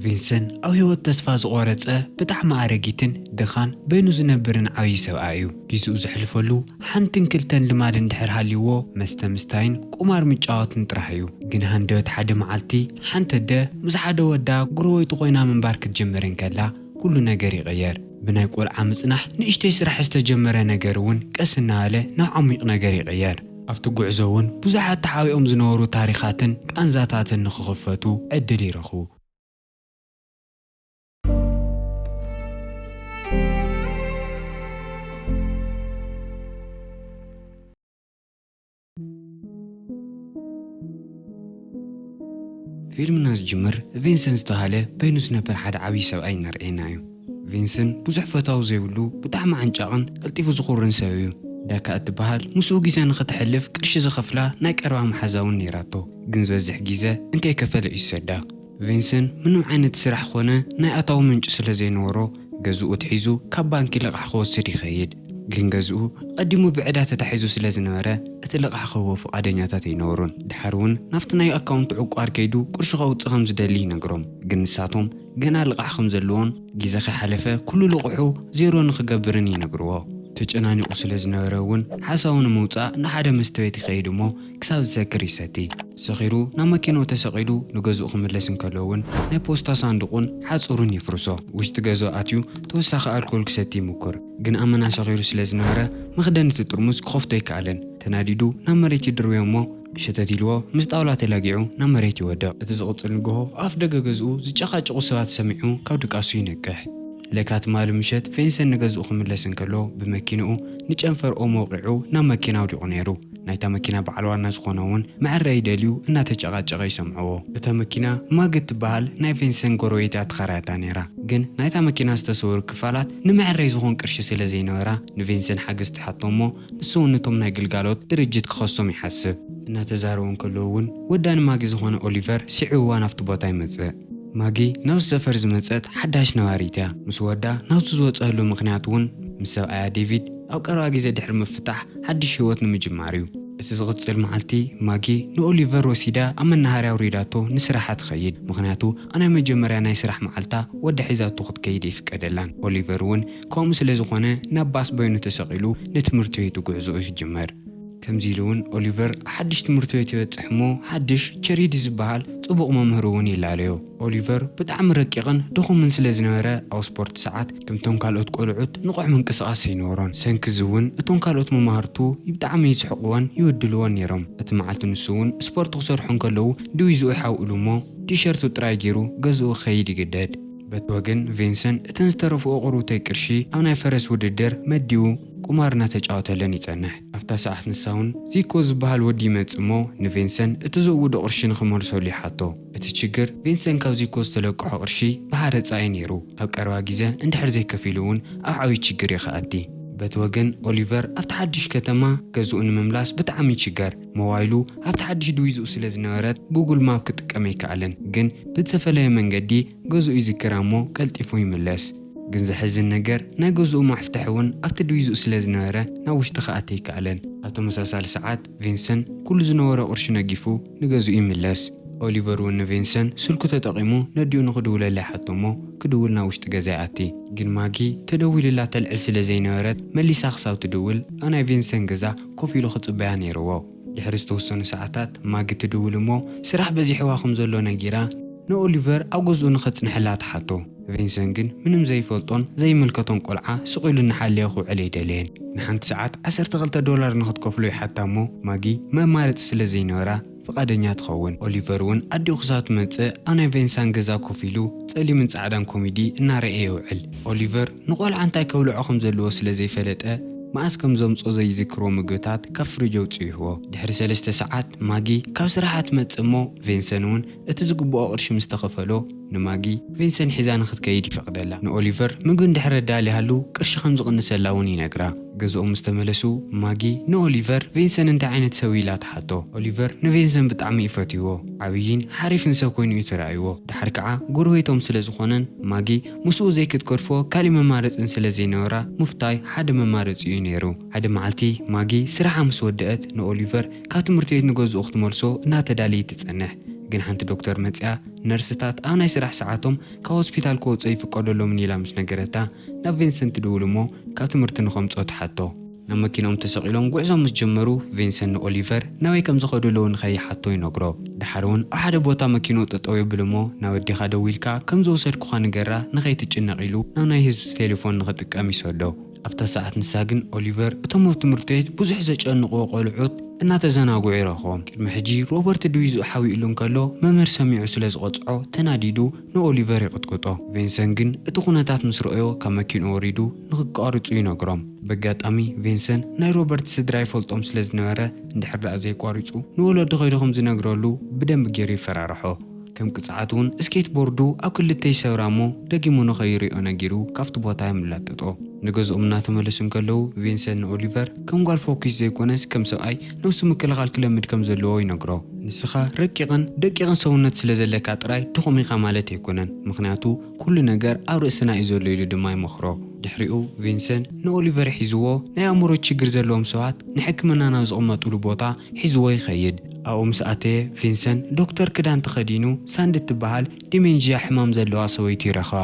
ቪንስን ኣብ ህይወት ተስፋ ዝቖረጸ ብጣዕሚ ኣረጊትን ድኻን በይኑ ዝነብርን ዓብዪ ሰብኣይ እዩ። ጊዝኡ ዘሕልፈሉ ሓንትን ክልተን ልማድ እንድሕር ሃልይዎ መስተ ምስታይን ቁማር ምጫወትን ጥራሕ እዩ። ግን ሃንደበት ሓደ መዓልቲ ሓንቲ ኣደ ምስ ሓደ ወዳ ጉረቤቱ ኮይና ምንባር ክትጅምር እንከላ ኩሉ ነገር ይቕየር። ብናይ ቆልዓ ምጽናሕ ንእሽተይ ስራሕ ዝተጀመረ ነገር እውን ቀስ እናበለ ናብ ዓሚቕ ነገር ይቕየር። ኣብቲ ጉዕዞ እውን ብዙሓት ተሓቢኦም ዝነበሩ ታሪኻትን ቃንዛታትን ንክኽፈቱ ዕድል ይረኽቡ። ፊልምና ዝጅምር ቪንሰንት ዝተብሃለ በይኑ ዝነብር ሓደ ዓብዪ ሰብኣይ እናርኣየና እዩ። ቪንስን ብዙሕ ፈታዊ ዘይብሉ ብጣዕሚ ዓንጫቕን ቀልጢፉ ዝኹርን ሰብ እዩ። ዳካ እትበሃል ምስኡ ግዜ ንኽተሕልፍ ቅርሺ ዝኸፍላ ናይ ቀረባ መሓዛ እውን ነይራቶ ግን ዝበዝሕ ግዘ እንከይከፈለ እዩ ዝሰዳ። ቪንስን ምንም ዓይነት ስራሕ ኾነ ናይ ኣታዊ ምንጪ ስለዘይነበሮ ገዝኡ ኣትሒዙ ካብ ባንኪ ልቓሕ ክወስድ ይኸይድ ግን ገዝኡ ኣቐዲሙ ብዕዳ ተታሒዙ ስለዝነበረ እቲ ልቓሕ ክህቦ ፍቓደኛታት ኣይነበሩን። ድሓር እውን ናብቲ ናይ ኣካውንቱ ዕቋር ከይዱ ቅርሹ ከውፅእ ከምዝደሊ ይነግሮም ግን ንሳቶም ገና ልቓሕ ከም ዘለዎን ግዜ ከይሓለፈ ኩሉ ልቑሑ ዜሮ ንኽገብርን ይነግርዎ። ተጨናኒቑ ስለ ዝነበረ እውን ሓሳቡ ንምውጻእ ንሓደ መስተ ቤት ይኸይድ እሞ ክሳብ ዝሰክር ይሰቲ። ሰኺሩ ናብ መኪንኡ ተሰቒሉ ንገዝኡ ክምለስ እንከሎ እውን ናይ ፖስታ ሳንዱቑን ሓጹሩን የፍርሶ። ውሽጢ ገዝኡ ኣትዩ ተወሳኺ ኣልኮል ክሰቲ ይሙኩር። ግን ኣመና ሰኺሩ ስለ ዝነበረ መኽደኒ'ቲ ጥርሙዝ ክኸፍቶ ኣይከኣለን። ተናዲዱ ናብ መሬት ይድርብዮ እሞ ሸተት ኢልዎ ምስ ጣውላ ተላጊዑ ናብ መሬት ይወድቕ። እቲ ዝቕጽል ንግሆ ኣፍ ደገ ገዝኡ ዝጨቓጨቑ ሰባት ሰሚዑ ካብ ድቃሱ ይነቅሕ። ለካ ትማሊ ምሸት ፌንሰን ንገዝኡ ክምለስ እንከሎ ብመኪንኡ ንጨንፈር ኦሞ ወቒዑ ናብ መኪና ኣውዲቑ ነይሩ። ናይታ መኪና በዓል ዋና ዝኾነ'ውን መዐረዪ ደልዩ እናተጨቓጨቐ ይሰምዕዎ። እታ መኪና ማግት ትበሃል ናይ ፌንሰን ጎረቤት እያ ተኻራያታ ነይራ። ግን ናይታ መኪና ዝተሰወሩ ክፋላት ንመዐረዪ ዝኾን ቅርሺ ስለ ዘይነበራ ንፌንሰን ሓገዝ ትሓቶ እሞ ንሱ ውን ነቶም ናይ ግልጋሎት ድርጅት ክኸሶም ይሓስብ። እናተዛረቡ እንከለዉ እውን ወዳኒ ማጊ ዝኾነ ኦሊቨር ስዒቡዋ ናብቲ ቦታ ይመጽእ። ማጊ ናብዚ ሰፈር ዝመጸት ሓዳሽ ነባሪት እያ። ምስ ወዳ ናብዚ ዝወጸኣሉ ምኽንያት እውን ምስ ሰብኣያ ዴቪድ ኣብ ቀረባ ግዜ ድሕሪ ምፍታሕ ሓድሽ ህይወት ንምጅማር እዩ። እቲ ዝቕጽል መዓልቲ ማጊ ንኦሊቨር ወሲዳ ኣብ መናሃርያ ኣውሪዳቶ ንስራሓ ትኸይድ። ምኽንያቱ ኣብ ናይ መጀመርያ ናይ ስራሕ መዓልታ ወዳ ሒዛቶ ክትከይድ ኣይፍቀደላን። ኦሊቨር እውን ከምኡ ስለ ዝዀነ፣ ናብ ባስ በይኑ ተሰቒሉ ንትምህርቲ ቤቱ ጕዕዞኡ ይጅምር። ከምዚ ኢሉ እውን ኦሊቨር ኣብ ሓድሽ ትምህርቲ ቤት ይበጽሕ እሞ ሓድሽ ቸሪዲ ዝበሃል ጽቡቕ መምህር እውን ይላለዮ። ኦሊቨር ብጣዕሚ ረቂቕን ድኹምን ስለ ዝነበረ፣ ኣብ ስፖርት ሰዓት ከምቶም ካልኦት ቈልዑት ንቑሕ ምንቅስቓስ ኣይነበሮን። ብሰንኪ እዚ እውን እቶም ካልኦት መማህርቱ ብጣዕሚ ይስሕቕዎን ይብድልዎን ነይሮም። እቲ መዓልቲ ንሱ እውን ስፖርት ክሰርሑ እንከለዉ ድቪዝኡ ይሓውእሉ እሞ ቲሸርቱ ጥራይ ገይሩ ገዝኡ ክኸይድ ይግደድ። በቲ ወገን ቬንሰን እተን ዝተረፍኦ ቁሩብተይ ቅርሺ ኣብ ናይ ፈረስ ውድድር መዲቡ ቁማር እናተጫወተለን ይጸንሕ። ኣብታ ሰዓት ንሳውን ዚኮ ዝበሃል ወዲ ይመጽእ እሞ ንቬንሰን እቲ ዘእውዶ ቅርሺ ንክመልሰሉ ይሓቶ። እቲ ችግር ቬንሰን ካብ ዚኮ ዝተለቀሖ ቅርሺ ብሃረጻ እዩ ነይሩ። ኣብ ቀረባ ጊዘ እንድሕር ዘይከፊሉ እውን ኣብ ዓብይ ችግር እዩ ክኣቲ። በቲ ወገን ኦሊቨር ኣብቲ ሓድሽ ከተማ ገዝኡ ንምምላስ ብጣዕሚ ይችገር። ሞባይሉ ኣብቲ ሓድሽ ድቪዝኡ ስለ ዝነበረት ጉግል ማፕ ክጥቀም ኣይከኣለን ግን ብዝተፈለየ መንገዲ ገዝኡ ይዝክራ እሞ ቀልጢፉ ይምለስ። ግን ዘሕዝን ነገር ናይ ገዝኡ ማፍተሒ እውን ኣብቲ ድቪዝኡ ስለ ዝነበረ ናብ ውሽጢ ክኣቲ ኣይከኣለን። ኣብ ተመሳሳሊ ሰዓት ቪንሰን ኩሉ ዝነበሮ ቅርሹ ነጊፉ ንገዝኡ ይምለስ። ኦሊቨር እውን ንቪንሰን ስልኩ ተጠቒሙ ነዲኡ ንኽድውለላ ይሓቶ እሞ ክድውል ናብ ውሽጢ ገዛ ይኣቲ። ግን ማጊ ተደዊሉላ ተልዕል ስለ ዘይነበረት መሊሳ ክሳብ ትድውል ኣብ ናይ ቪንሰን ገዛ ኮፍ ኢሉ ክጽበያ ነይርዎ። ድሕሪ ዝተወሰኑ ሰዓታት ማጊ ትድውል እሞ ስራሕ በዚሕዋ ከም ዘሎ ነጊራ ንኦሊቨር ኣብ ገዝኡ ንኸጽንሐላ ትሓቶ። ቪንሰን ግን ምንም ዘይፈልጦን ዘይምልከቶን ቆልዓ ስቕ ኢሉ እናሓለየ ክውዕል ኣይደለየን። ንሓንቲ ሰዓት ዓሰርተ ክልተ ዶላር ንኽትከፍሎ ይሓታ እሞ ማጊ መማረጺ ስለ ዘይነበራ፣ ፍቓደኛ ትኸውን። ኦሊቨር እውን ኣዲኡ ክሳብ ትመጽእ ኣብ ናይ ቬንሳን ገዛ ኮፍ ኢሉ ጸሊምን ጻዕዳን ኮሚዲ እናረእየ የውዕል። ኦሊቨር ንቆልዓ እንታይ ከብልዖ ከም ዘለዎ ስለ ዘይፈለጠ መኣስ ከም ዘምጽኦ ዘይዝክርዎ ምግብታት ካብ ፍሪጅ ኣውጺኡ ይህቦ። ድሕሪ ሰለስተ ሰዓት ማጊ ካብ ስራሓ ትመጽእ እሞ ቬንሰን እውን እቲ ዝግብኦ ቅርሺ ምስ ተኸፈሎ፣ ንማጊ፣ ቪንሰን ሒዛ ንኽትከይድ ይፈቕደላ። ንኦሊቨር፣ ምግቢ እንድሕሪ ኣዳልያሉ ቅርሺ ከም ዝቕንሰላ እውን ይነግራ። ገዝኦም ምስ ተመለሱ፣ ማጊ ንኦሊቨር፣ ቪንሰን እንታይ ዓይነት ሰብ እዩ? ኢላ ትሓቶ። ኦሊቨር፣ ንቪንሰን ብጣዕሚ እዩ ፈትይዎ። ዓብዪን ሓሪፍን ሰብ ኮይኑ እዩ ተራእይዎ። ደሓር ከዓ ጎረቤቶም ስለ ዝኾነን፣ ማጊ ምስኡ ዘይክትገድፎ ካሊእ መማረፂን ስለ ዘይነበራ ምፍታይ ሓደ መማረፂኡ እዩ ነይሩ። ሓደ መዓልቲ ማጊ ስራሓ ምስ ወደእት፣ ንኦሊቨር ካብ ትምህርቲ ቤት ንገዝኡ ክትመልሶ እናተዳለየት ትፀንሕ። ግን ሓንቲ ዶክተር መፂኣ። ነርስታት ኣብ ናይ ስራሕ ሰዓቶም ካብ ሆስፒታል ክወጹ ኣይፍቀደሎምን ኢላ ምስ ነገረታ፣ ናብ ቪንሰን ትድውል እሞ ካብ ትምህርቲ ንኸምጽኦ ትሓቶ። ናብ መኪንኦም ተሰቒሎም ጉዕዞም ምስ ጀመሩ፣ ቪንሰን ንኦሊቨር ናበይ ከም ዝኸዱ እለዉ ንኸይሓቶ ይነግሮ። ደሓር እውን ኣብ ሓደ ቦታ መኪንኡ ጠጠው የብል እሞ ናብ ኣዴኻ ደዊልካ ከም ዝወሰድኩኻ ንገራ ንኸይትጭነቕ ኢሉ ናብ ናይ ህዝብ ቴሌፎን ንኽጥቀም ይሰዶ። ኣብታ ሰዓት ንሳ ግን ኦሊቨር እቶም ኣብ ትምህርት ቤት ብዙሕ ዘጨንቕዎ ቆልዑት እናተዘናግዑ ይረኽቦም። ቅድሚ ሕጂ ሮበርት ድቪዝኡ ሓዊኡሉ እንከሎ መምህር ሰሚዑ ስለ ዝቐጽዖ ተናዲዱ ንኦሊቨር ይቕጥቅጦ። ቬንሰን ግን እቲ ኩነታት ምስ ረኦዮ ካብ መኪንኡ ወሪዱ ንክቃርጹ ይነግሮም። በጋጣሚ ቬንሰን ናይ ሮበርት ስድራ ይፈልጦም ስለ ዝነበረ እንድሕር ደኣ ዘይቋሪጹ ንወለዱ ከይዱ ከም ዝነግረሉ ብደንቢ ጌሩ ይፈራርሖ። ከም ቅጽዓት እውን ስኬት ቦርዱ ኣብ ክልተ ይሰብራ እሞ ደጊሙ ንኸይሪኦ ነጊሩ ካብቲ ቦታ የመላጥጦ። ንገዝኦም እናተመለሱ እንከለዉ ቪንሰን ንኦሊቨር ከም ጓል ፎኪስ ዘይኮነስ ከም ሰብኣይ ነብሱ ምክልኻል ክለምድ ከም ዘለዎ ይነግሮ። ንስኻ ረቂቕን ደቂቕን ሰውነት ስለ ዘለካ ጥራይ ድኹም ኢኻ ማለት ኣይኮነን፣ ምኽንያቱ ኩሉ ነገር ኣብ ርእስና እዩ ዘሎ ኢሉ ድማ ይመኽሮ። ድሕሪኡ ቪንሰን ንኦሊቨር ሒዝዎ ናይ ኣእምሮ ችግር ዘለዎም ሰባት ንሕክምና ናብ ዝቕመጥሉ ቦታ ሒዝዎ ይኸይድ። ኣብኡ ምስ ኣተየ፣ ቪንሰን ዶክተር ክዳን ተኸዲኑ ሳንዲ እትበሃል ዲመንዥያ ሕማም ዘለዋ ሰበይቱ ይረኽባ።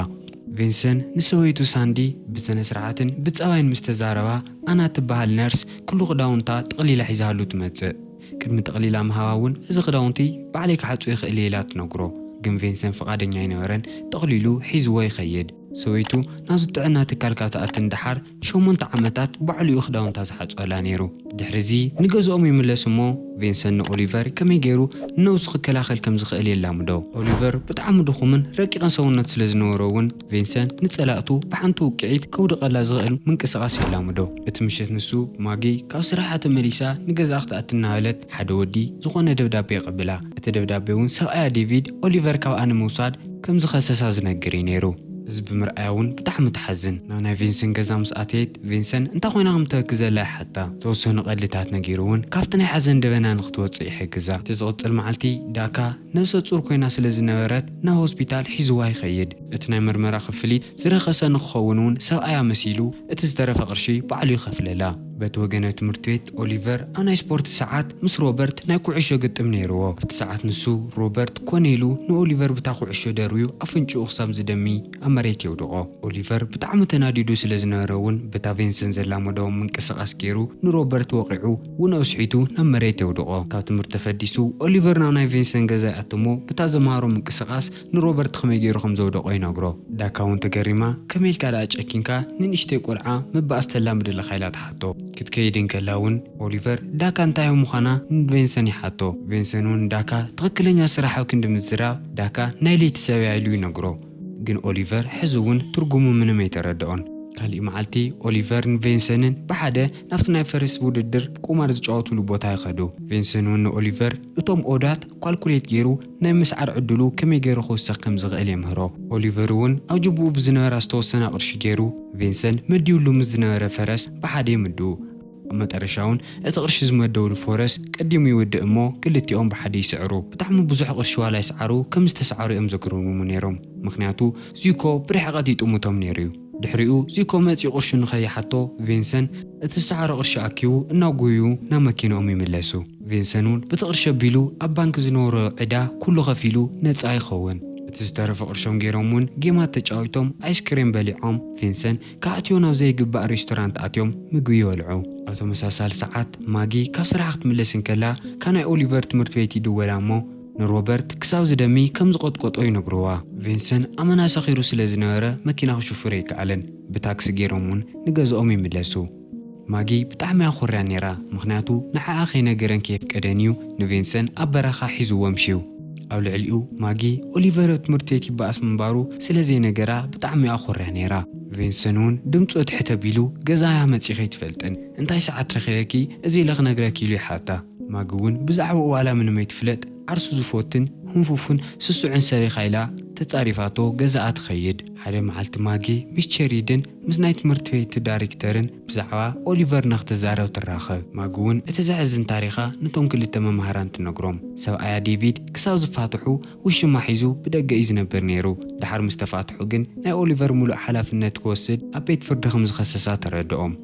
ቪንሰን ንሰበይቱ ሳንዲ ብስነ-ስርዓትን ብጸባይን ምስ ተዛረባ፣ ኣና እትበሃል ነርስ ኩሉ ክዳውንታ ጠቕሊላ ሒዛሉ ትመጽእ። ቅድሚ ጠቕሊላ ምሃባ እውን እዚ ክዳውንቲ ባዕለይ ክሓጽቦ ይኽእል እየ ኢላ ትነግሮ። ግን ቪንሰን ፍቓደኛ ኣይነበረን፣ ጠቕሊሉ ሒዝዎ ይኸይድ። ሰበይቱ ናብዚ ጥዕና ትካል ካብ ትኣቲ ንደሓር ሸሞንተ ዓመታት ባዕሉ'ዩ ክዳውንታ ዝሓጽበላ ነይሩ። ድሕሪ'ዚ ንገዝኦም ይምለሱ'ሞ ቬንሰን ንኦሊቨር ከመይ ገይሩ ንነብሱ ክከላኸል ከም ዝኽእል የላምዶ። ኦሊቨር ብጣዕሚ ድኹምን ረቂቕን ሰውነት ስለ ዝነበሮ'ውን ቬንሰን ንጸላእቱ ብሓንቲ ውቅዒት ከውድቐላ ዝኽእል ምንቅስቓስ የላምዶ። እቲ ምሸት ንሱ ማጊ ካብ ስራሓ ተመሊሳ ንገዝኣ ክትኣቲ እናበለት፣ ሓደ ወዲ ዝዀነ ደብዳቤ ቐቢላ፣ እቲ ደብዳቤ እውን ሰብኣያ ዴቪድ ኦሊቨር ካብኣ ንምውሳድ ከም ዝኸሰሳ ዝነግር እዩ ነይሩ። እዚ ብምርኣያ እውን ብጣዕሚ ትሓዝን። ናብ ናይ ቪንሰን ገዛ ምስ ኣተየት፣ ቪንሰን እንታይ ዀይና ኸም እትበኪ ዘላ ይሓታ። ዝተወሰኑ ቐልድታት ነጊሩ እውን ካብቲ ናይ ሓዘን ደበና ንኽትወጽእ ይሕግዛ። እቲ ዝቕጽል መዓልቲ፣ ዳካ ነብሰ ጹር ኰይና ስለ ዝነበረት ናብ ሆስፒታል ሒዝዋ ይኸይድ። እቲ ናይ መርመራ ኽፍሊት ዝረኸሰ ንኽኸውን እውን ሰብኣያ መሲሉ እቲ ዝተረፈ ቕርሺ ባዕሉ ይኸፍለላ። በቲ ወገነ ትምህርት ቤት ኦሊቨር ኣብ ናይ ስፖርት ሰዓት ምስ ሮበርት ናይ ኩዕሾ ግጥም ነይርዎ። ኣብቲ ሰዓት ንሱ፣ ሮበርት፣ ኮነ ኢሉ ንኦሊቨር ብታ ኩዕሾ ደርብዩ ኣፍንጭኡ ክሳብ ዝደሚ ኣብ መሬት የውድቖ። ኦሊቨር ብጣዕሚ ተናዲዱ ስለ ዝነበረ ውን በታ ቬንሰን ዘላመዶ ምንቅስቓስ ገይሩ ንሮበርት ወቒዑ ውን ኣውስሒቱ ናብ መሬት የውድቖ። ካብ ትምህርት ተፈዲሱ ኦሊቨር ናብ ናይ ቬንሰን ገዛ ይኣቱ'ሞ ብታ ዘምሃሮ ምንቅስቓስ ንሮበርት ኸመይ ገይሩ ኸም ዘውደቖ ይነግሮ። ዳካ እውን ተገሪማ፣ ከመይ ኢልካ ደኣ ጨኪንካ ንንእሽተይ ቈልዓ መባእስ ተላምደለኻ? ኢላ ትሓቶ። ክትከይድ እንከላ እውን ኦሊቨር፣ ዳካ እንታይ ኣብ ምዃና ንቬንሰን ይሓቶ። ቬንሰን እውን ንዳካ ትኽክለኛ ስራሕ ኣብ ክንዲ ምዝራብ፣ ዳካ ናይ ለይቲ ሰብ እያ ኢሉ ይነግሮ። ግን ኦሊቨር ሕዚ እውን ትርጉሙ ምንም ኣይተረድኦን። ካልእ መዓልቲ ኦሊቨር ን ቬንሰንን ብሓደ ናብቲ ናይ ፈረስ ውድድር፣ ቁማር፣ ዝጫወቱሉ ቦታ ይኸዱ። ቬንሰን እውን ንኦሊቨር እቶም ኦዳት ኳልኩሌት ገይሩ፣ ናይ ምስዓር ዕድሉ ከመይ ገይሩ ክውስኽ ከም ዝኽእል የምህሮ። ኦሊቨር እውን ኣብ ጁቡኡ ብዝነበራ ዝተወሰና ቅርሺ ገይሩ፣ ቪንሰን መዲቡሉ ምስ ዝነበረ ፈረስ ብሓደ ይምድቡ። ኣብ መጠረሻ እውን እቲ ቅርሺ ዝመደቡሉ ፎረስ ቀዲሙ ይውድእ እሞ ክልቲኦም ብሓደ ይስዕሩ። ብጣዕሚ ብዙሕ ቅርሺ ዋላ ይስዓሩ ከም ዝተስዓሩ እዮም ዘግርሙ ነይሮም። ምኽንያቱ ዚኮ ብርሕቐት ይጥምቶም ነይሩ እዩ። ድሕሪኡ ዚኮ መጺኡ ቅርሹ ንኸይሓቶ ቪንሰን እቲ ዝሰዓሮ ቅርሺ ኣኪቡ እናጎዩ ናብ መኪንኦም ይምለሱ። ቪንሰን ውን ብቲ ቅርሺ ኣቢሉ ኣብ ባንኪ ዝነበሮ ዕዳ ኩሉ ከፊሉ ነጻ ይኸውን። እቲ ዝተረፈ ቅርሾም ጌሮም ውን ጌማት ተጫዊቶም ኣይስክሬም በሊዖም ቪንሰን ክኣትዮ ናብ ዘይግባእ ሬስቶራንት ኣትዮም ምግቢ ይበልዑ። ኣብ ተመሳሳሊ ሰዓት ማጊ ካብ ስራሓ ክትምለስ እንከላ ካናይ ኦሊቨር ትምህርት ቤት ይድወላ እሞ፣ ንሮበርት ክሳብ ዝደሚ ከም ዝቖጥቆጦ ይነግርዋ። ቪንሰን ኣመና ሰኺሩ ስለ ዝነበረ መኪና ክሽፍር ኣይከኣለን። ብታክሲ ገይሮም እውን ንገዝኦም ይምለሱ። ማጊ ብጣዕሚ እያ ኮርያ ነይራ፣ ምኽንያቱ ንዓኣ ከይነገረን ከየፍቀደን እዩ ንቪንሰን ኣብ በረኻ ሒዝዎ ኣምሽዩ። ኣብ ልዕሊኡ ማጊ ኦሊቨር ኣብ ትምህርቲ ቤት ይበኣስ ምንባሩ ስለ ዘይነገራ ብጣዕሚ እያ ኮርያ ነይራ። ቪንሰን እውን ድምፁ ትሕት ኣቢሉ ገዛ እያ መፂኺ ኣይትፈልጥን እንታይ ሰዓት ረኺበኪ እዚ ኢለ ክነግረኪ ኢሉ ይሓታ። ማጊ እውን ብዛዕባኡ ዋላ ምንም ኣይትፍለጥ ዓርሱ ዝፎትን ህንፉፉን ስሱዕን ሰብ ኢኻ ኢላ ተጻሪፋቶ ገዛኣ ትኸይድ። ሓደ መዓልቲ ማጊ ምስ ቸሪድን ምስ ናይ ትምህርቲ ቤት ዳሪክተርን ብዛዕባ ኦሊቨር ንኽትዛረብ ትራኸብ። ማጊ እውን እቲ ዘሕዝን ታሪኻ ነቶም ክልተ መማህራን ትነግሮም። ሰብኣያ ዴቪድ ክሳብ ዝፋትሑ ውሽማ ሒዙ ብደገ እዩ ዝነብር ነይሩ። ደሓር ምስ ተፋትሑ ግን ናይ ኦሊቨር ምሉእ ሓላፍነት ክወስድ ኣብ ቤት ፍርዲ ከም ዝኸሰሳ ተረደኦም።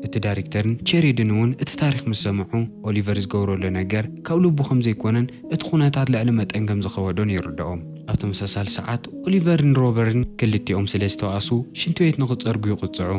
እቲ ዳሪክተርን ቼሪድን እውን እቲ ታሪኽ ምስ ሰምዑ፣ ኦሊቨር ዝገብረሉ ነገር ካብ ልቡ ከም ዘይኮነን እቲ ኩነታት ልዕሊ መጠን ከም ዝኸበዶን ይርድኦም። ኣብ ተመሳሳሊ ሰዓት፣ ኦሊቨርን ሮበርን ክልቲኦም ስለ ዝተባእሱ ሽንቲ ቤት ንኽጸርጉ ይቕጽዑ።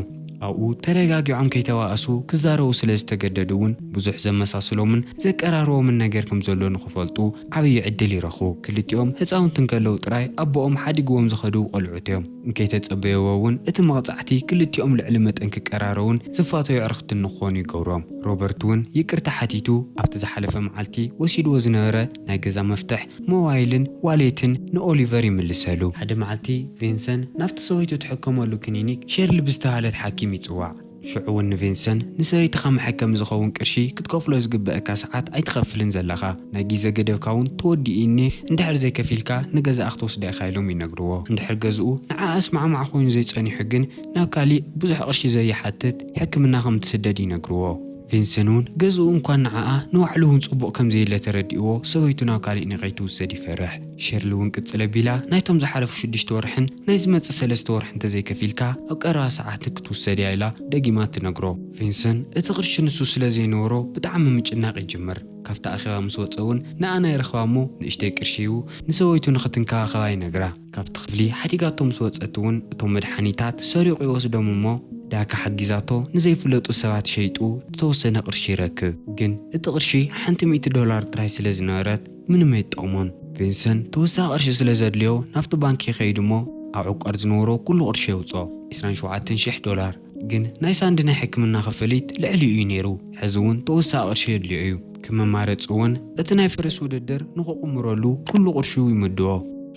ኣብኡ ተረጋጊዖም ከይተባእሱ ክዛረቡ ስለ ዝተገደዱ እውን ብዙሕ ዘመሳስሎምን ዘቀራርቦምን ነገር ከም ዘሎ ንኽፈልጡ ዓብዪ ዕድል ይረኽቡ። ክልቲኦም ህጻውንቲ እንከለዉ ጥራይ ኣቦኦም ሓዲግዎም ዝኸዱ ቈልዑት እዮም። እንከይተጸበየዎ እውን እቲ መቕጻዕቲ ክልቲኦም ልዕሊ መጠን ክቀራረቡን ዝፋተዩ ኣዕርኽትን ንክኾኑ ይገብሮም። ሮበርት እውን ይቅርታ ሓቲቱ ኣብቲ ዝሓለፈ መዓልቲ ወሲድዎ ዝነበረ ናይ ገዛ መፍትሕ፣ ሞባይልን ዋሌትን ንኦሊቨር ይምልሰሉ። ሓደ መዓልቲ ቬንሰን ናብቲ ሰበይቱ ትሕከመሉ ክኒኒክ ሼርሊ ብዝተባህለት ሓኪም ይጽዋዕ። ሽዑ'ውን ንቪንሰን፣ ንሰበይትኻ መሐከሚ ዝኸውን ቅርሺ ክትከፍሎ ዝግበእካ ሰዓት ኣይትኸፍልን ዘለኻ፣ ናይ ጊዘ ገደብካ'ውን ተወዲኡ እኒ፣ እንድሕር ዘይከፊልካ ንገዛኣ ክትወስዳ ኢኻ ኢሎም ይነግርዎ። እንድሕር ገዝኡ ንዓኣ ኣስማዕማዕ ኮይኑ ዘይጸኒሑ ግን ናብ ካሊእ ብዙሕ ቅርሺ ዘይሓትት ሕክምና ከም እትስደድ ይነግርዎ። ቪንሰን'ውን ገዝኡ እንኳን ንዓኣ ንባዕሉ'ውን ጽቡቕ ከም ዘየለ ተረዲእዎ ሰበይቱ ናብ ካሊእ ንከይትውሰድ ይፈርሕ። ሸርሊ እውን ቅጽል ኣቢላ፣ ናይቶም ዝሓለፉ ሽዱሽተ ወርሕን ናይ ዝመጽእ ሰለስተ ወርሕን እንተዘይከፊልካ ኣብ ቀረባ ሰዓት ክትውሰድ እያ ኢላ ደጊማ ትነግሮ። ቪንሰን እቲ ቅርሺ ንሱ ስለ ዘይነበሮ ብጣዕሚ ምጭናቕ ይጅምር። ካብቲ ኣኼባ ምስ ወጸ እውን ንኣና ይረኽባ እሞ ንእሽተይ ቅርሺ ሂቡ ንሰበይቱ ንኽትንከባኸባ ይነግራ። ካብቲ ክፍሊ ሓዲጋቶ ምስ ወጸት እውን እቶም መድሓኒታት ሰሪቑ ይወስዶም እሞ ዳካ ሓጊዛቶ ንዘይፍለጡ ሰባት ሸይጡ ዝተወሰነ ቅርሺ ይረክብ። ግን እቲ ቅርሺ ሓንቲ ሚእቲ ዶላር ጥራይ ስለ ዝነበረት፣ ምንም ኣይትጠቕሞን። ቪንሰን ተወሳኺ ቅርሺ ስለ ዘድልዮ ናብቲ ባንክ ይኸይድ እሞ ኣብ ዕቋር ዝነበሮ ኩሉ ቅርሺ የውጽኦ፣ ዕስራን ሸውዓተን ሽሕ ዶላር። ግን ናይ ሳንዲ ናይ ሕክምና ክፍሊት ልዕሊኡ እዩ ነይሩ፣ ሕዚ እውን ተወሳኺ ቅርሺ የድልዮ እዩ። ከም መማረጺ እውን እቲ ናይ ፈረስ ውድድር ንኽቕምረሉ ኩሉ ቅርሹ ይምድቦ።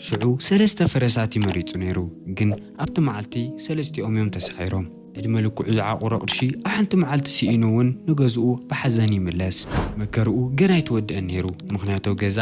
ሽዑ ሰለስተ ፈረሳት እዩ መሪጹ ነይሩ፣ ግን ኣብቲ መዓልቲ ሰለስቲኦም እዮም ተሳዒሮም። ዕድመ ልክዑ ዝዓቑሮ ቅርሺ ኣብ ሓንቲ መዓልቲ ስኢኑ እውን ንገዝኡ ብሓዘን ይምለስ። መከርኡ ገና ኣይተወድኣን ነይሩ፣ ምኽንያቶ ገዛ፣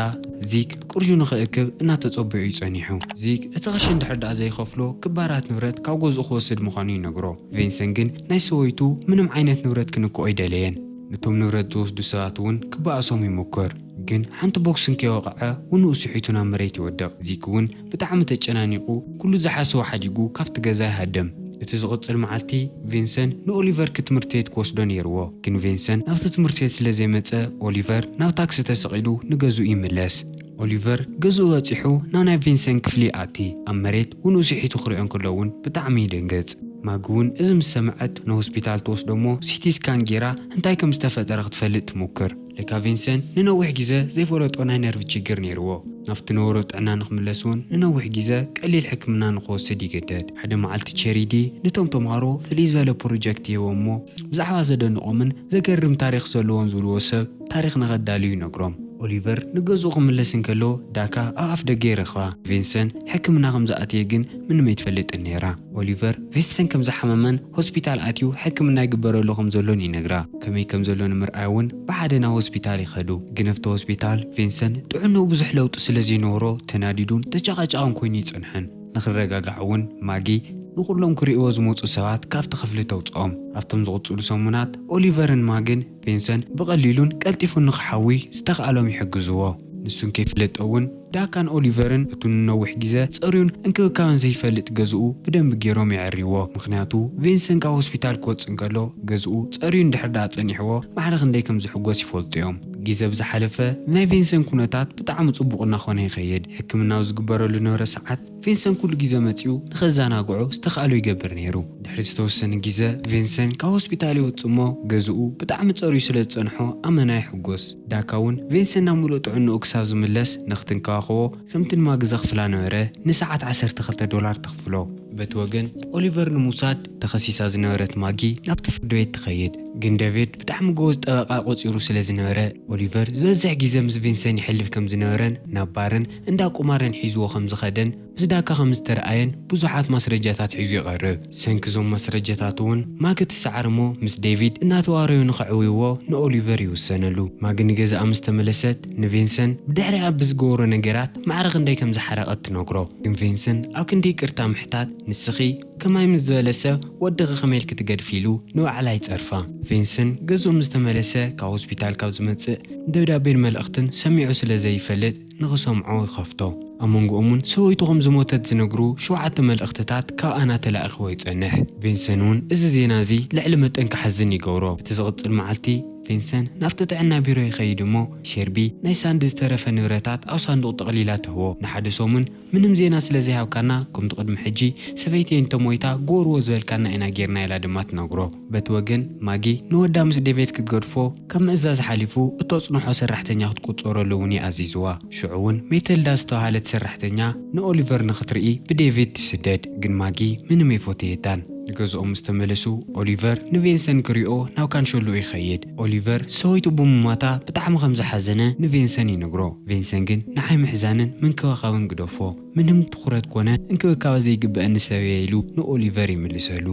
ዚግ፣ ቅርሹ ንኽእክብ እናተጸበዮ እዩ ጸኒሑ። ዚግ እቲ ቅርሺ እንድሕር ደኣ ዘይኸፍሎ ክባራት ንብረት ካብ ገዝኡ ክወስድ ምዃኑ ይነግሮ። ቬንሰን ግን ናይ ሰበይቱ ምንም ዓይነት ንብረት ክንክኦ ኣይደለየን። ነቶም ንብረት ዝወስዱ ሰባት እውን ክበኣሶም ይሙክር፣ ግን ሓንቲ ቦክስ እንከይወቕዐ ውንኡ ስሒቱ ናብ መሬት ይወድቕ። ዚግ እውን ብጣዕሚ ተጨናኒቑ ኩሉ ዝሓሰቦ ሓዲጉ ካብቲ ገዛ ይሃደም። እቲ ዝቕጽል መዓልቲ ቪንሰን ንኦሊቨር ክትምርቲ ቤት ክወስዶ ኔርዎ ግን ቪንሰን ናብቲ ትምህርቲ ቤት ስለ ዘይመጸ ኦሊቨር ናብ ታክሲ ተሰቒሉ ንገዝኡ ይምለስ። ኦሊቨር ገዝኡ በጺሑ ናብ ናይ ቪንሰን ክፍሊ ይኣቲ ኣብ መሬት ውንኡ ስሒቱ ክሪኦ እንከሎ ውን ብጣዕሚ ይድንግጽ። ማጊ ውን እዚ ምስ ሰምዐት ንሆስፒታል ትወስዶ እሞ ሲቲ ስካን ጌራ እንታይ ከም ዝተፈጠረ ክትፈልጥ ትሙክር። ለካ ቪንሰንት ንነዊሕ ግዘ ዘይፈለጦ ናይ ነርቭ ችግር ነይርዎ። ናብቲ ነበሮ ጥዕና ንክምለስ እውን ንነዊሕ ግዘ ቀሊል ሕክምና ንክወስድ ይግደድ። ሓደ መዓልቲ ቼሪዲ ንቶም ተምሃሮ ፍልይ ዝበለ ፕሮጀክት ይህቦም እሞ ብዛዕባ ዘደንቖምን ዘገርም ታሪኽ ዘለዎን ዝብልዎ ሰብ ታሪኽ ንከዳልዩ ይነግሮም። ኦሊቨር ንገዝኡ ክምለስ እንከሎ ዳካ ኣብ ኣፍደገ ይረኽባ። ቪንሰንት ሕክምና ከምዝኣተየ ግን ምንም ኣይትፈልጥን ነይራ። ኦሊቨር ቪንሰንት ከምዝሓመመን ሆስፒታል ኣትዩ ሕክምና ይግበረሉ ከም ዘሎን ይነግራ። ከመይ ከም ዘሎ ንምርኣይ እውን ብሓደ ናብ ሆስፒታል ይኸዱ። ግን ኣብቲ ሆስፒታል ቪንሰን ጥዕንኡ ብዙሕ ለውጢ ስለ ዘይነበሮ ተናዲዱን ተጨቓጫቕን ኮይኑ ይጸንሕን። ንኽረጋጋዕ እውን ማጊ ንኹሎም ክርእይዎ ዝመጹ ሰባት ካብቲ ክፍሊ ተውጽኦም። ኣብቶም ዝቕጽሉ ሰሙናት ኦሊቨርን ማግን ቪንሰን ብቐሊሉን ቀልጢፉን ንኽሓዊ ዝተኻእሎም ይሕግዝዎ። ንሱን ከይፍለጦ እውን ዳካን ኦሊቨርን እቱ ንነዊሕ ጊዘ ጸርዩን እንክብካበን ዘይፈልጥ ገዝኡ ብደንቢ ገይሮም የዐርይዎ። ምኽንያቱ ቪንሰን ካብ ሆስፒታል ክወጽእ እንከሎ ገዝኡ ጸርዩ እንድሕር ደኣ ጸኒሕዎ ማዕረ ክንደይ ከም ዝሕጎስ ይፈልጡ እዮም። ጊዘ ብዝሓለፈ ናይ ቪንሰን ኩነታት ብጣዕሚ ጽቡቕ እናኾነ ይኸይድ። ሕክምናዊ ዝግበረሉ ንብረት ሰዓት፣ ቪንሰን ኩሉ ግዜ መጺኡ ንኸዘናግዖ ዝተኻእሎ ይገብር ነይሩ። ድሕሪ ዝተወሰነ ግዜ፣ ቪንሰን ካብ ሆስፒታል ይወጽእ እሞ ገዝኡ ብጣዕሚ ጸርዩ ስለ ዝጸንሖ ኣመና ይሕጎስ። ዳካ እውን ቪንሰን ናብ ምሉእ ጥዕንኡ ክሳብ ዝምለስ ንኽትንከባኸቦ ከምቲ ንማጊ ዘኽፍላ ነበረ ንሰዓት ዓሰርተ ክልተ ዶላር ተኽፍሎ። በቲ ወገን ኦሊቨር ንምውሳድ ተኸሲሳ ዝነበረት ማጊ ናብቲ ፍርድ ቤት ትኸይድ። ግን ደቪድ ብጣዕሚ ጎበዝ ጠበቓ ቆጺሩ ስለ ዝነበረ ኦሊቨር ዝበዝሕ ግዜ ምስ ቪንሰን የሕልፍ ከም ዝነበረን ናብ ባርን እንዳ ቁማርን ሒዝዎ ከም ዝኸደን ምስ ዳካ ከም ዝተርኣየን ብዙሓት ማስረጃታት ሒዙ ይቐርብ። ብሰንኪ እዞም ማስረጃታት እውን ማጊ ትሰዓር እሞ ምስ ዴቪድ እናተዋረዩ ንኸዕውይዎ ንኦሊቨር ይውሰነሉ። ማጊ ንገዛኣ ምስ ተመለሰት ንቪንሰን ብድሕሪኣ ብዝገበሮ ነገራት ማዕረ ክንደይ ከም ዝሓረቐት ትነግሮ። ግን ቪንሰን ኣብ ክንዲ ይቅርታ ምሕታት ንስኺ ከማይ ምስ ዝበለ ሰብ ወድኺ ከመይ ኢልኪ ትገድፊ ኢሉ ንባዕላ ይጸርፋ። ቪንሰን ገዝኡ ምስ ተመለሰ ካብ ሆስፒታል ካብ ዝመጽእ ደብዳቤን መልእኽትን ሰሚዑ ስለ ዘይፈልጥ፣ ንኽሰምዖ ይኸፍቶ። ኣብ መንጎኦም እውን ሰበይቱ ከም ዝሞተት ዝነግሩ ሸውዓተ መልእኽትታት ካብ ኣና ተላኢኽዎ ይጸንሕ። ቪንሰን እውን እዚ ዜና እዚ ልዕሊ መጠን ክሓዝን ይገብሮ። እቲ ዝቕጽል መዓልቲ ቪንሰን ናብቲ ጥዕና ቢሮ ይኸይድ እሞ ሼርቢ ናይ ሳንዲ ዝተረፈ ንብረታት ኣብ ሳንዱቕ ጠቕሊላ ትህቦ። ንሓደ ሰሙን ምንም ዜና ስለ ዘይሃብካና ከምቱ ቅድሚ ሕጂ ሰበይተይ እንተ ሞይታ ግበርዎ ዝበልካና ኢና ጌርና ኢላ ድማ ትነግሮ። በቲ ወገን ማጊ ንወዳ ምስ ዴቬድ ክትገድፎ ካብ ምእዛዝ ሓሊፉ እተጽንሖ ሰራሕተኛ ክትቁጸረሉ እውን እዩ ኣዚዝዋ። ሽዑ እውን ሜተልዳ ዝተባህለት ሰራሕተኛ ንኦሊቨር ንኽትርኢ ብዴቪድ ትስደድ ግን ማጊ ምንም ኣይፎተየታን። ንገዝኦም ምስ ተመለሱ ኦሊቨር ንቬንሰን ክሪኦ ናብ ካንሸሎኡ ይኸይድ። ኦሊቨር ሰበይቱ ብምሟታ ብጣዕሚ ከም ዝሓዘነ ንቬንሰን ይነግሮ። ቬንሰን ግን ንዓይ ምሕዛንን ምንክብኻብን ግደፎ፣ ምንም ትኹረት ኮነ እንክብካበ ዘይግበኣኒ ሰብ'የ ኢሉ ንኦሊቨር ይምልሰሉ።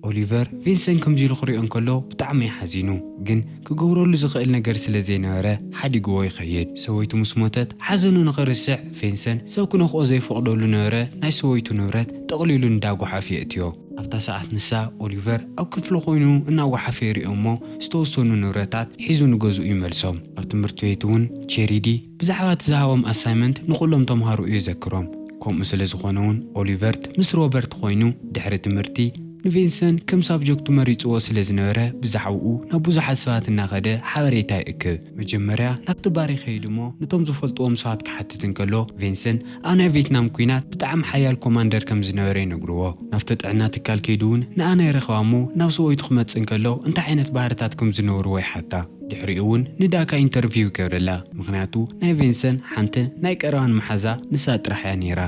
ኦሊቨር ቬንሰን ከምዚ ኢሉ ክሪኦ እንከሎ ብጣዕሚ'ዩ ሓዚኑ። ግን ክገብረሉ ዝኽእል ነገር ስለ ዘይነበረ ሓዲግዎ ይኸይድ። ሰበይቱ ምስ ሞተት ሓዘኑ ንኽርስዕ ቬንሰን ሰብ ክነኽኦ ዘይፈቕደሉ ነበረ ናይ ሰበይቱ ንብረት ጠቕሊሉ ንዳጉሓፍ የእትዮ። ኣብታ ሰዓት ንሳ፣ ኦሊቨር፣ ኣብ ክፍሉ ኮይኑ እናጓሓፈ ይሪኦም እሞ ዝተወሰኑ ንብረታት ሒዙ ንገዝኡ ይመልሶም። ኣብ ትምህርቲ ቤት እውን ቼሪዲ ብዛዕባ እቲ ዝሃቦም ኣሳይመንት ንኹሎም ተምሃሮ እዩ ዘክሮም። ከምኡ ስለ ዝኾነ እውን ኦሊቨርት ምስ ሮበርት ኮይኑ ድሕሪ ትምህርቲ ንቬንሰን ከም ሳብጀክቱ መሪጽዎ ስለ ዝነበረ ብዛዕባኡ ናብ ብዙሓት ሰባት እናኸደ ሓበሬታ ይእክብ። መጀመርያ ናብቲ ባር ይኸይድ እሞ ነቶም ዝፈልጥዎም ሰባት ክሓትት እንከሎ ቬንሰን፣ ኣብ ናይ ቬትናም ኩናት ብጣዕሚ ሓያል ኮማንደር ከም ዝነበረ ይነግርዎ። ናብቲ ጥዕና ትካል ከይዱ ውን ንኣና ይረኽባ እሞ ናብ ሰብኦይቱ ክመጽእ እንከሎ እንታይ ዓይነት ባህርታት ከም ዝነበርዎ ይሓታ። ድሕሪኡ ውን ንዳካ ኢንተርቪው ይገብረላ ምኽንያቱ ናይ ቬንሰን ሓንቲ ናይ ቀረባን መሓዛ ንሳ ጥራሕ እያ ኔራ።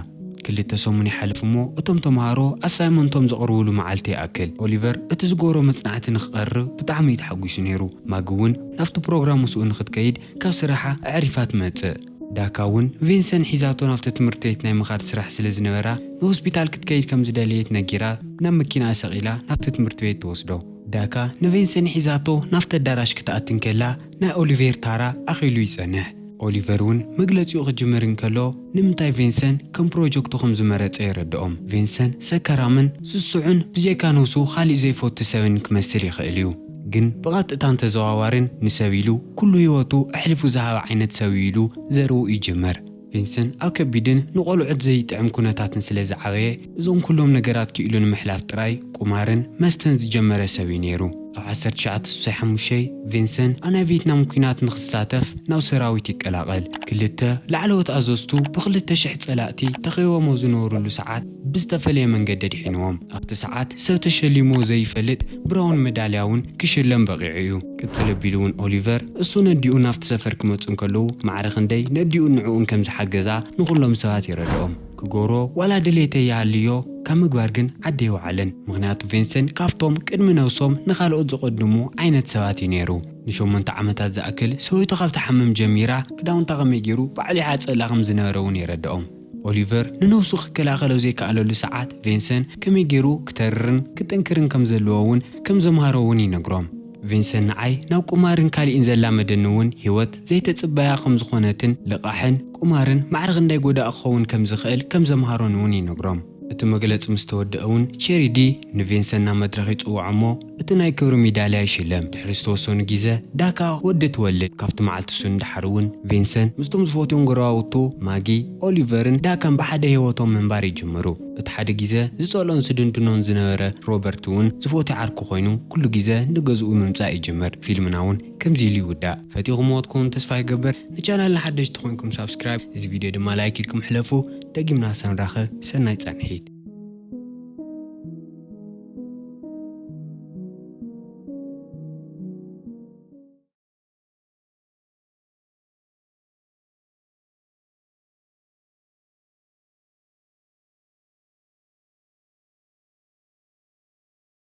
ክልተ ሰሙን ይሓልፍ እሞ እቶም ተማሃሮ ኣሳይመንቶም ዘቕርብሉ መዓልቲ ይኣክል። ኦሊቨር እቲ ዝገበሮ መጽናዕቲ ንክቐርብ ብጣዕሚ እዩ ተሓጒሱ ኔሩ። ማጊ ውን ናብቲ ፕሮግራም ምስኡ ንክትከይድ ካብ ስራሓ ኣዕሪፋ ትመጽእ። ዳካ እውን ቪንሰን ሒዛቶ ናብቲ ትምህርቲ ቤት ናይ ምኻድ ስራሕ ስለ ዝነበራ ንሆስፒታል ክትከይድ ከም ዝደለየት ነጊራ ናብ መኪናኣ ሰቒላ ናብቲ ትምህርቲ ቤት ትወስዶ። ዳካ ንቪንሰን ሒዛቶ ናብቲ ኣዳራሽ ክትኣቲ እንከላ ናይ ኦሊቬር ታራ ኣኺሉ ይጸንሕ። ኦሊቨር እውን መግለጺኡ ክጅምር እንከሎ ንምንታይ ቪንሰን ከም ፕሮጀክቱ ከም ዝመረጸ የረድኦም። ቪንሰን ሰከራምን ስሱዕን ብጀካ ንሱ ካሊእ ዘይፈቱ ሰብን ክመስል ይኽእል እዩ። ግን ብቐጥታን ተዘዋዋርን ንሰብ ኢሉ ኩሉ ህይወቱ ኣሕሊፉ ዝሃበ ዓይነት ሰብ'ዩ ኢሉ ዘረኡ ይጅምር። ቪንስን ኣብ ከቢድን ንቆልዑት ዘይጥዕም ኩነታትን ስለ ዝዓበየ እዞም ኩሎም ነገራት ክኢሉ ንምሕላፍ ጥራይ ቁማርን መስተን ዝጀመረ ሰብ'ዩ ነይሩ። ኣብ ዓሰርተ ትሽዓተ ስሳይ ሓሙሽተ ቪንስን ኣብ ናይ ቬትናም ኲናት ንኽሳተፍ ናብ ሰራዊት ይቀላቐል። ክልተ ላዕለዎት ኣዘዝቱ ብክልተ ሽሕ ጸላእቲ ተኸቢቦሞ ዝነበርሉ ሰዓት፣ ብዝተፈለየ መንገዲ ኣድሒንዎም። ኣብቲ ሰዓት ሰብ ተሸሊምዎ ዘይፈልጥ ብራውን መዳልያ እውን ክሽለም በቒዑ እዩ። ቅጽል ኣቢሉ እውን ኦሊቨር፣ እሱን ኣዲኡን ናብቲ ሰፈር ክመጹ እንከለዉ ማዕረ ክንደይ ነዲኡን ንዕኡን ከም ዝሓገዛ ንኹሎም ሰባት የረድኦም። ክገብሮ ዋላ ድሌተ ይሃልዮ ካብ ምግባር ግን ዓዲ ኣይወዓለን። ምኽንያቱ ቬንሰን ካብቶም ቅድሚ ነብሶም ንኻልኦት ዘቐድሙ ዓይነት ሰባት እዩ ነይሩ። ንሸሞንተ ዓመታት ዝኣክል ሰበይቱ ካብ ትሓምም ጀሚራ ክዳውንታ ከመይ ገይሩ ባዕሉ ይሓጽበላ ከም ዝነበረ እውን የረድኦም። ኦሊቨር ንነብሱ ክከላኸሎ ዘይከኣለሉ ሰዓት ቬንሰን ከመይ ገይሩ ክተርርን ክጥንክርን ከም ዘለዎ ውን ከም ዘምሃሮ ውን ይነግሮም። ቬንሰን ንዓይ ናብ ቁማርን ካሊእን ዘላመደኒ ውን ሂወት ዘይተጽበያ ከም ዝኾነትን ልቓሕን ቁማርን ማዕረ ክንደይ ጎዳኢ ክኸውን ከም ዝኽእል ከም ዘምሃሮን ውን ይነግሮም። እቲ መግለጺ ምስ ተወድኣ እውን ቼሪዲ ንቪንሰን ናብ መድረኽ ይጽውዖ እሞ እቲ ናይ ክብሪ ሚዳልያ ይሽለም። ድሕሪ ዝተወሰኑ ጊዘ ዳካ ወዲ ትወልድ። ካብቲ መዓልቲ እሱ ንደሓር እውን ቪንሰን ምስቶም ዝፈትዎም ጎረባብቱ ማጊ፣ ኦሊቨርን ዳካን ብሓደ ህይወቶም ምንባር ይጅምሩ። እቲ ሓደ ጊዘ ዝጸልኦን ዝድንድኖን ዝነበረ ሮበርት እውን ዝፈትዮ ዓርኩ ኮይኑ ኩሉ ጊዘ ንገዝኡ ምምጻእ ይጅምር። ፊልምና እውን ከምዚ ኢሉ ይውዳእ። ፈቲኹምዎ ትኮኑ ተስፋ ይገብር ንቻናልና ሓደሽቲ ኮንኩም ሳብስክራይብ እዚ ቪድዮ ድማ ላይክ ኢልኩም ሕለፉ። ደጊምና ሰንራኸብ ሰናይ ፃንሒት።